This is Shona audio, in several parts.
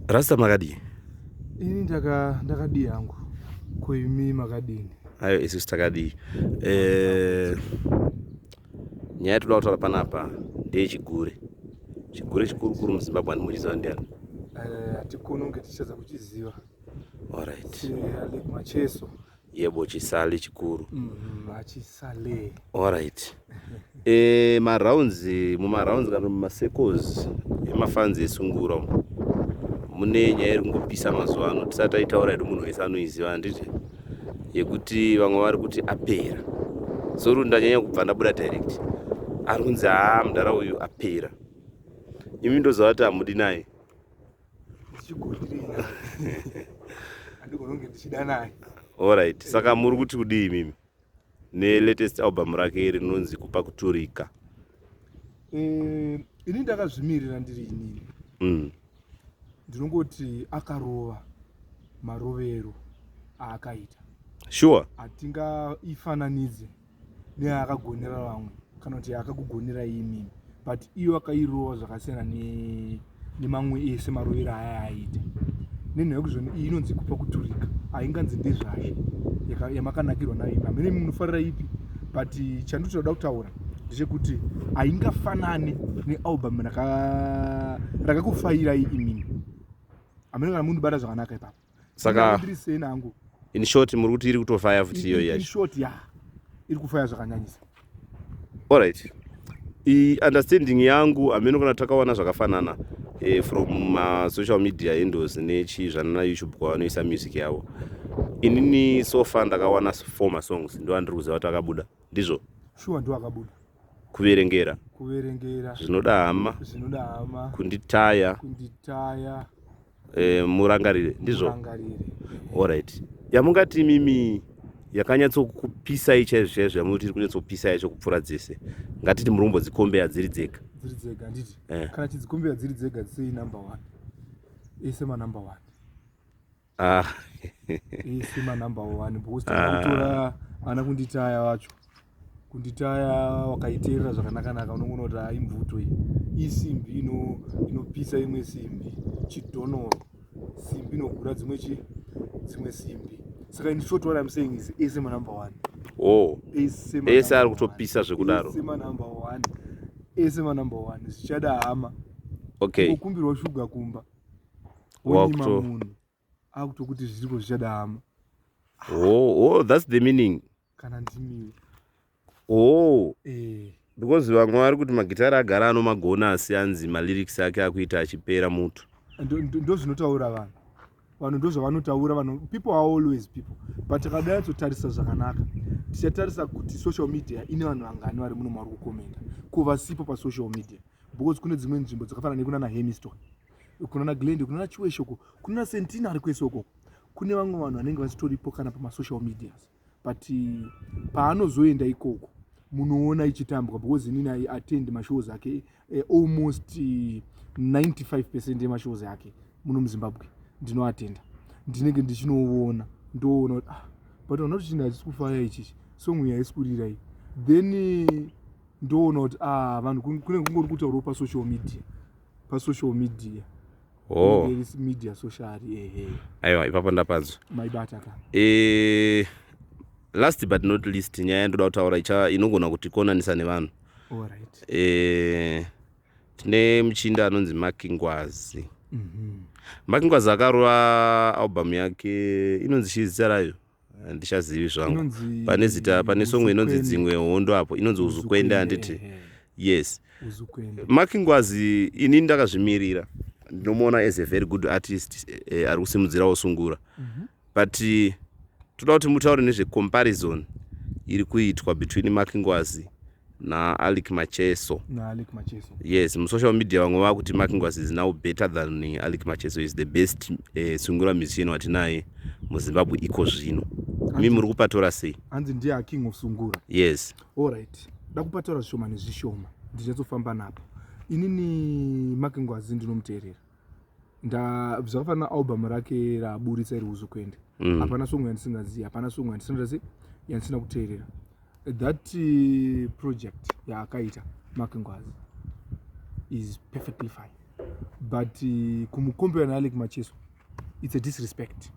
rasta makadii ini ndakadii hangu koimi makadini ayo isu sitakadii eh, nyaya yatoda kutaura panapa ndeyechigure chigure chikuru kuru muzimbabwe andimuchiziva ndiani eh, hatikononge tichadza kuchiziva orit eh, macheso yebo chisale chikuru mm, achisale alright e, eh, marounds mumarounds kana mumasecos emafanzi esungura umu mune nyaya iri kungopisa mazuva ano tisati taitaura yedu munhu wese anoiziva handiti yekuti vamwe vari kuti apera sori ndanyanya kubva ndabuda direct ari kunzi haa mudhara uyu apera imi ndozovati hamudi naye Alright, saka muri kuti kudii mimi nelatest album rake iri rinonzi kupa kuturika? Eh, ini ndakazvimirira ndiri inini mm. ndinongoti akarova marovero aakaita sure hatingaifananidze neakagonera vamwe kana kuti akakugonera imi but iyo akairova zvakasiyana nemamwe ese marovero aya aita nenhaya kuzvani iyi inonzi kupa kuturika hainganzi ndezvazvo yamakanakirwa nayo ipi hamene munofarira ipi but chanditoda kutaura ndechekuti haingafanane nealbum rakakufairai imimi hamene kana munhu bata zvakanaka ipapo saka in short muri kuti iri kutofaya futi iyoyi yacho iri kufaya zvakanyanyisa allright understanding yangu hameno kana takawana zvakafanana eh, from masocial media endos nechii zvanana youtube kwavanoisa music yavo inini so far ndakawana four masongs ndo andiri kuziva kuti akabuda ndizvo shuwa ndo akabuda kuverengera kuverengera zvinoda hama zvinoda hama kunditaya kunditaya eh, murangarire ndizvo murangarire alright yamungati imimi yakanyatsokupisai chaizvo chaizvo yamunoti iri kunyatsokupisai yacho kupfuura dzese ngatiti muri kumbodzikombeya dziri dzega dziri dzega handiti Eh. kana chidzikombeya dziri dzega sei number one ese manumber one ah. ese manumber one because takakutora ana kunditaya vacho kunditaya wakaiteerera zvakanakanaka unongoona kuti haa imvuto iyi isimbi inopisa imwe simbi chidhonoro simbi inogura dzimwe chi dzimwe simbi saka in short what i'm saying is ese manumber one oh ese ari kutopisa zvekudaro ese manumber one ese manumber one zvichada hama okay kukumbirwa shuga kumba wonyima munhu akutokuti zviriko zvichada hama oh, oh, that's the meaning kana ndimiwo oh eh because vamwe vari kuti magitari agara anomagona asi anzi malyrics ake akuita achipera mutu ndozvinotaura vanhu vanhu ndozvavanotaura vanhu people are always people but tikada yatsotarisa zvakanaka tichatarisa kuti social media ine vanhu vangani vari muno mauri kukomenda ko vasipo pasocial media because kune dzimwe nzvimbo dzakafanana nekunana hemiston kunana glende kunana chiweshoko kunana sentina ari kwese ukoko kune vamwe vanhu vanenge vachitoripo kana pamasocial medias but eh, paanozoenda ikoko munoona ichitambwa because inini i attend mashows ake eh, almost 95 eh, percent emashows ake muno muzimbabwe ndinoatenda ndinenge ndichinoona ndoona kuti ah, but vana kuti chinhu hachisi kufaya ichichi songu yaisi kurira iyi then ndoona kuti ah, vanhu kune kungori kutaurawo pasocial media pasocial media oh. media social ehe aiwa ipapo ndapanzwa maibata ka eh last but not least nyaya yandoda kutaura icha inogona kuti konanisa nevanhu right. eh tine muchinda anonzi makingwazi mm -hmm. makingwazi akarova album yake inonzi chii zita rayo handichazivi zvangu pane zita pane songo inonzi dzimwe hondo apo inonzi uzukwende handiti yes makingwazi ini ndakazvimirira ndinomuona as a very good artist eh, ari kusimudzirawo sungura mhm. but eh, toda kuti mutaure nezvecomparison iri kuitwa between makingwazi naalic macheso naalic macheso yes musocial media vamwe vava kuti makingwas is now better than eh, alic macheso is the best uh, eh, sungura musician watinaye muzimbabwe iko zvino mi muri kupatora sei hanzi ndiye aking of sungura yes allright da kupatora zvishoma nezvishoma ndichatsofamba napo inini makingwazi ndinomuteerera zvakafanana album rake raaburitsa iri uzokwende mm. hapana mm. songo yandisingazivi hapana songo yandisina sei yandisina kuteerera that uh, project yaakaita mark ngwazi is perfectly fine but uh, kumukombera naalek macheso it's a disrespect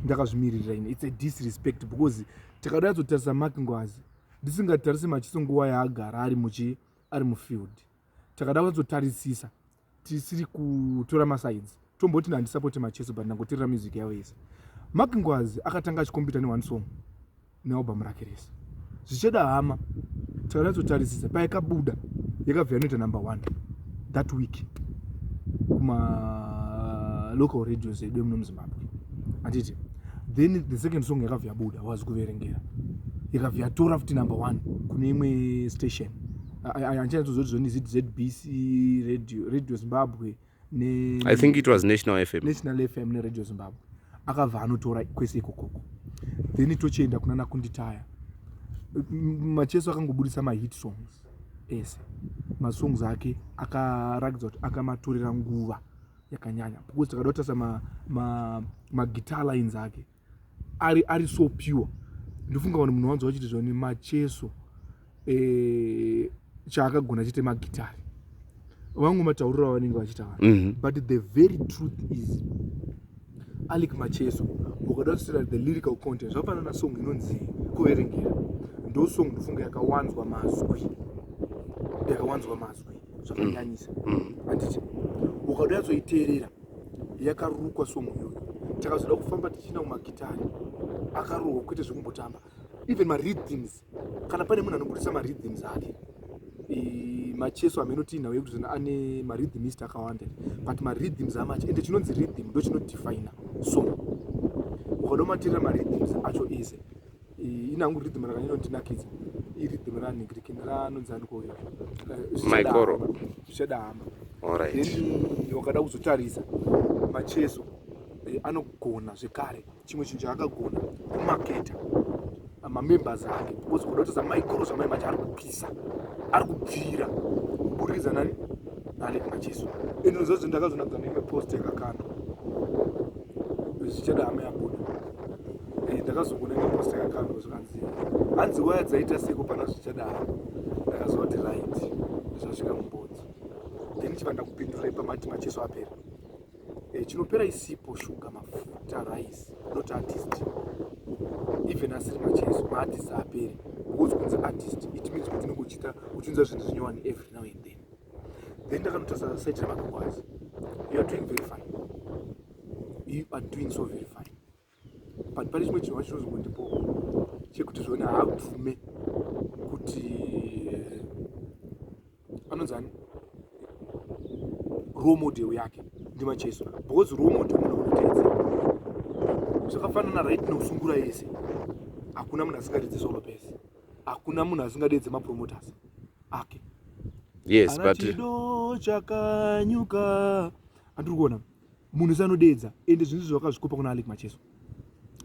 ndakazvimiririra ini it's a disrespect because takada yatsotarisa mark ngwazi ndisingatarise machiso nguva yaagara ari muchi ari mufield takada kunyatsotarisisa tisiri kutora masides tomboti handisapoti macheso but ndangoterera music yavo yese mark ngwazi akatanga achikombita neone song nealbum rake rese zvichada hama takanatsotarisisa payakabuda yakabva yanoita number one that week kumalocal radios edu emuno muzimbabwe handiti then the second song yakabva yabuda wazi kuverengera yakabva yatora futi number one kune imwe station handichanyatsozorizoni zbc radio radio zimbabwe ne i think it was national fm national fm neradio zimbabwe akabva anotora kwese ikokoko then tochienda kuna nakunditaya macheso akangoburitsa mahit songs ese masongs ake akarakidza kuti akamatorera nguva yakanyanya because takada kutarisa maguitar ma lines ake ari ari so pure ndofunga vanhu munhu wanzwa vachiti zvani macheso eh, chaakagona chete magitari vangu matauriro avanenge vachitaura mm -hmm. but the very truth is alec macheso ukada kusira the lyrical content zvapana na song inonzi kuverengera ndo song ndofunga yakawanzwa mazwi yakawanzwa mazwi zvakanyanyisa mm -hmm. anditi ukada yatsoiteerera yakarukwa song iyoyo takazoda kufamba tichienda kumagitari akarohwa kwete zvekumbotamba even maridhims kana pane munhu anobudisa maridhims ake macheso ameno tiinawo yekuti zvino ane maridhimist akawanda but maridhims amacho ende chinonzi ridhim ndo chinodefina song ukada umatirira maridhims acho ese inangu rhythm rakanyanya kundinakidza irhythm ranigiriki ranonzi aniko uyo eh, maikoro zvichada hama then wakada kuzotarisa macheso eh, anogona zvekare chimwe chinhu chaakagona kumaketa ah, mamembers ake because kuda kutasa maikoro zvamai mati ari kupisa ari kubvira kuburidza nani nani macheso and nozozvi ndakazonadza neimwe post yakakandwa zvichada hama yabuda eh, ndakazokuona ngepost yakakandwa zvikanzi hanzi waya dzaita seko pana zvichadaro ndakazoti right zvasvika mubodzi then chiva ndakupindura ipamati macheso apera e, chinopera isipo shuga mafuta rice not artist even asiri macheso maartist apere because kunzi artist it means kuti unenge uchiita uchiunza zvinhu zvinyowani every now and then then ndakanotarisa site remakakwazi you are doing very fine you are doing so very fine but pane chimwe chinhu vachitozi kundipo chekuti zvona haabvume kuti eh, anonzani role model yake ndimacheso because role model munhu anoteedza zvakafanana right nokusungura yese hakuna munhu asingaridzi solo pese hakuna munhu asingadeedze mapromoters ake yes, but... chakanyuka andiri kuona munhu wese anodeedza ende zvinhu izvizvi wakazvikopa kuna alec macheso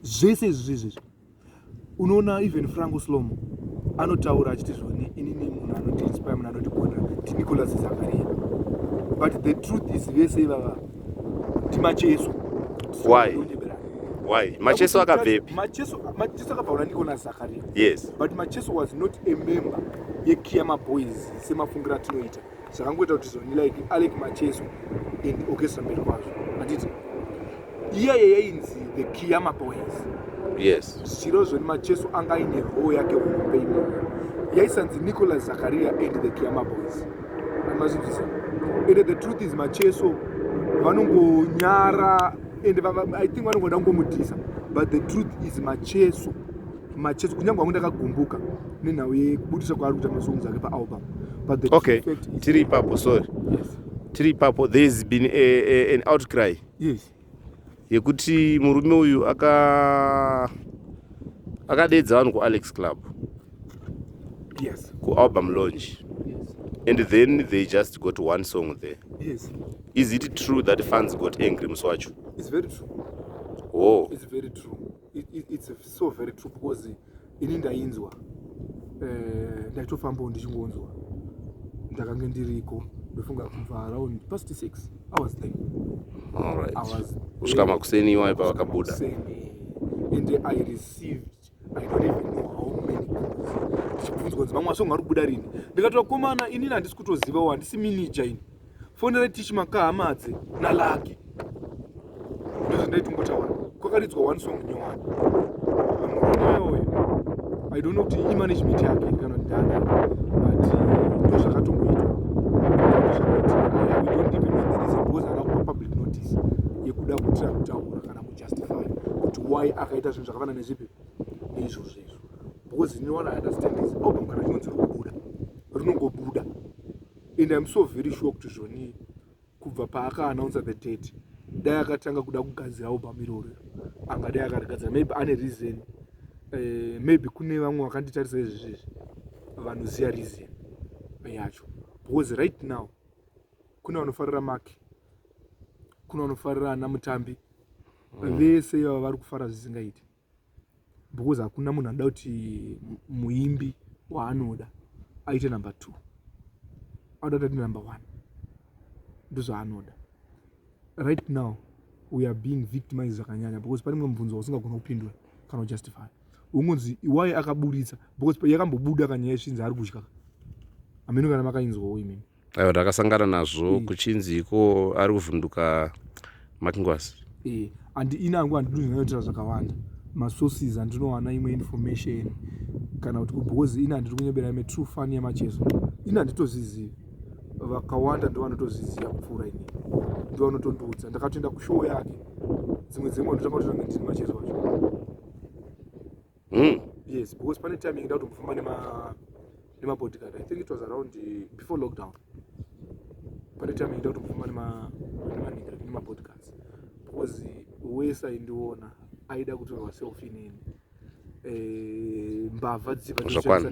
zvese izvizvi izvizvi unoona even franco slomo anotaura achiti zvoni inini munhu anotiinspire munhu anotigonera tinicolas zakaria but the truth is vese ivava timacheso why why macheso akabvepi macheso macheso akabvaura ndiko na zakaria yes but macheso was not a member yekiyama boys semafungira atinoita zvakangoita kuti zvoni like alec macheso and orchestra mberi kwazvo atiti iyaye yainzi the kiyama boys yes zviro zvoni macheso anga aine roo yake hombe imoyo yaisanzi nicolas zakaria and the kiyama boys amazvinzisa ende the truth is macheso vanongonyara ende i think vanongoda kungomudhisa but the truth is macheso machesi kunyange wangu ndakagumbuka nenhau yekubudisa kwaari kuita masongs ake paalbum okay tiri ipapo sorry yes. tiri ipapo there has been a, a, an outcry yes yekuti murume uyu aka akadeedza vanhu kualex club yes kualbum launch yes. and then they just got one song there yes is it true that fans got angry musi wacho it's very true oh it's very true it's so very true because ini ndainzwa eh, ndaitofambawo ndichingonzwa ndakange ndiriko ndofunga kubva around past six hours then kusvika makuseni iwayo pavakabuda and i received i don't even know how many ndichibvunzwa kunzi vamwe vasonga ari kubuda rini ndikatovakomana inini handisi kutozivawo handisi minija ini fonera tichi makahamadze nalaki ndozvandaitingotaura kwakaridzwa one song nyowani amuroneoyo i don't know kuti imanagement yake kana ndana but ndozvakatomboitwa public notice yekuda kutira kutaura kana kujustify kuti why akaita zvinhu zvakafana nezvipi neizvozvo izvo because inowana understandings album kana chinonzi rinobuda rinongobuda and im so very sure kuti zvonii kubva paakaanounsa the date dai akatanga kuda kugadzira album iroro anga dai akarigadzira maybe ane reason uh, maybe kune vamwe vakanditarisa izvi zvezvi vanoziva reason yacho because right now kune vanofarira make kune vanofarira ana mutambi mm. vese ivava vari kufara zvisingaiti because hakuna munhu anoda kuti muimbi waanoda aite number two anoda kuti aite number one ndozvaanoda right now we are being victimized zvakanyanya because pane mumwe mubvunzo wausingagona kupindura kana kujustify ungonzi iwai akaburitsa because yakambobuda kanyaya yesvinzi ari kudya hameno kana makainzwawo imimi aiwa ndakasangana nazvo mm. kuchinzi iko ari kuvhunduka makingwasi eh, and inangu handidozvinoitira zvakawanda masources andinowana imwe information kana kuti kubhozi ina ndiri kunyebera ime true fun yamacheso ina nditozvizivi vakawanda ndo vanotozviziva kupfuura ini ndo vanotondiudza ndakatoenda kushow yake dzimwe dzimwe ndotanga kutotange ndiri macheso acho mm. yes because pane time yekuda kutofamba nema nema bodyguard i think it was around uh, before lockdown pane time yekuda kutofamba nema nema nigga nema bodyguards because wese aindiona aida kutorwa selfie nini eh mbavha dzichibva